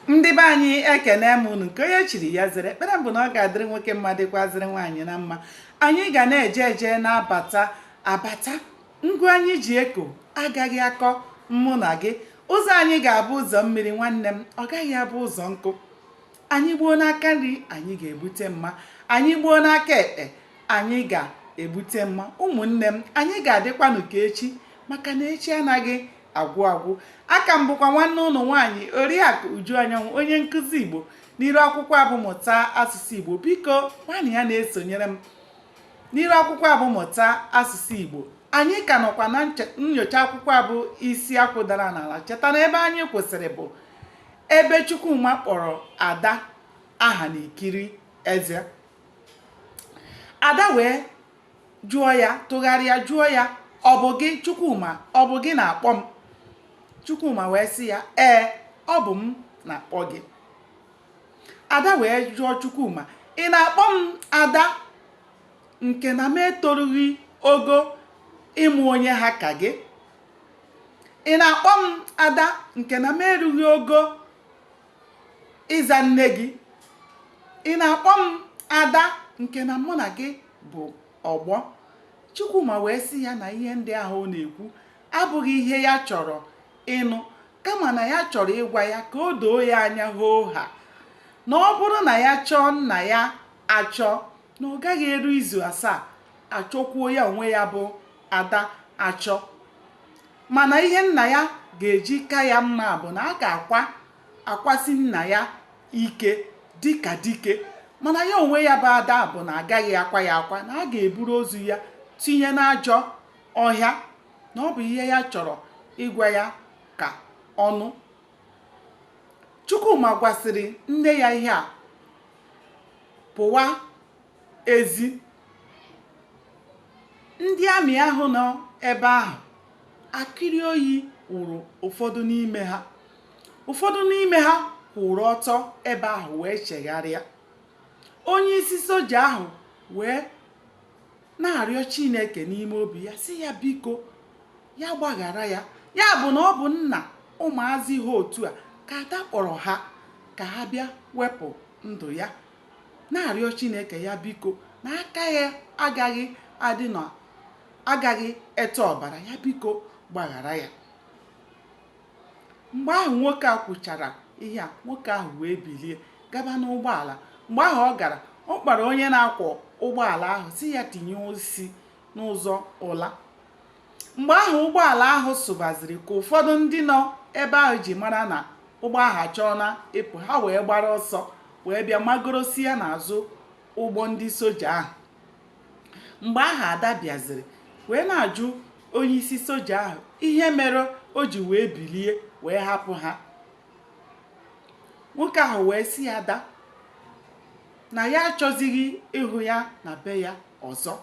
ndị be anyị ekene m unu nke onye chiri ya zere ekpere m bụ na ọ ga-adịrị nwoke mma dịkwazịrị nwaanyị na mma anyị ga na-eje eje na-abata abata ngụ anyị ji eko agaghị akọ mụ na gị ụzọ anyị ga-abụ ụzọ mmiri nwanne m ọ gaghị abụ ụzọ nkụ anyị gbuo n'aka nri anyị ga-egbute mma anyị gbuo n'aka ekpe anyị ga-egbute mma ụmụnne m anyị ga-adịkwanụ ka echi maka na echi anaghị agwụ agwụ aka m bụkwa nwanne unu nwaanyị oriakụ uju anyanwụ onye nkụzi igbo n'iru akwụkwọ a bụ mụta asụsụ igbo biko nwanne ya na-esonyere m n'iru akwụkwọ a bụ mụta asụsụ igbo anyị ka nọkwa na nyocha akwụkwọ a bụ isi akwụ dara n'ala cheta na ebe anyị kwụsịrị bụ ebe chukwuma kpọrọ ada aha n'ikiri eze ada wee jụọ ya tụgharịa jụọ ya ọ bụ gị Chukwuma ọ bụ gị na-akpọ m Chukwuma wee sị ya ee ọ bụ m na-akpọ gị ada wee jụọ Chukwuma ị na-akpọ m ada nke na m etorughị ogo ịmụ onye ha ka gị ị na-akpọ m ada nke na m erughị ogo ịza nne gị ị na-akpọ m ada nke na mụ na gị bụ ọgbọ Chukwuma wee sị ya na ihe ndị ahụ ọ na-ekwu abụghị ihe ya chọrọ ịnụ kama na ya chọrọ ịgwa ya ka o doo ya anya hoo ha na ọ bụrụ na ya chọọ nna ya achọ na ọ gaghị eru izu asaa achọkwuo ya onwe ya bụ ada achọ mana ihe nna ya ga-eji ka ya mma bụ na a ga-akwa akwasị nna ya ike dịka dike mana ya onwe ya bụ ada bụ na agaghị akwa ya akwa na a ga-eburu ozu ya tinye n'ajọ ọhịa na ọ bụ ihe ya chọrọ ịgwa ya ka ọ nụ Chukwuma gwasịrị nne ya ihe a pụwa ezi ndị amị ahụ nọ ebe ahụ akịrị oyi wụrụ ụfọdụ n'ime ha ụfọdụ n'ime ha kwụrụ ọtọ ebe ahụ wee chegharịa onye isi soja ahụ wee na-arịọ Chineke n'ime obi ya sị ya biko ya gbaghara ya ya bụ na ọ bụ nna ụmụazị ha otu a ka ada kpọrọ ha ka ha bịa wepụ ndụ ya na-arịọ chineke ya biko na aka ya agaghị adị na agaghị ete ọbara ya biko gbaghara ya mgbe ahụ nwoke a kwuchara ihe a nwoke ahụ wee bilie gaba n'ụgbọala mgbe ahụ ọ gara ọ kpọrọ onye na-akwọ ụgbọala ahụ sị ya tinye isi n'ụzọ ụla Mgbe ahụ ụgbọala ahụ sụbaziri ka ụfọdụ ndị nọ ebe ahụ ji mara na ụgbọ ahụ achọọna ịpụ, ha wee gbara ọsọ wee bịa magorosia n'azụ ụgbọ ndị soja ahụ. Mgbe ahụ Ada bịaziri wee na-ajụ onyeisi soja ahụ ihe mere o ji wee bilie wee hapụ ha. Nwoke ahụ wee sị Ada na ya achọzighị ịhụ ya na be ya ọzọ.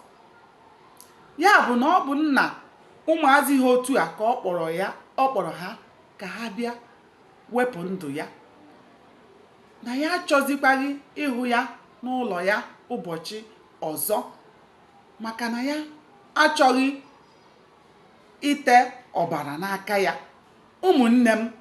ya bụ na ọ bụ nna ụmụazị ha otu a ka ọ kpọrọ ha ka ha bịa wepụ ndụ ya na ya achọzikwaghị ịhụ ya n'ụlọ ya ụbọchị ọzọ maka na ya achọghị ite ọbara n'aka ya Ụmụnne m,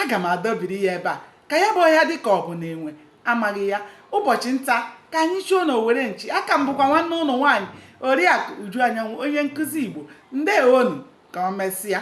aga m adọbiri ya ebe a, ka ya bụ ọhịa dị ka ọ bụ na enwe amaghị ya. Ụbọchị nta ka anyị chụọ n'owere nchi. Aka m bụkwa nwanne unu nwaanyị Oriakụ Uju Anyanwụ, onye nkụzi Igbo. Ndeewonụ, ka o mesịa.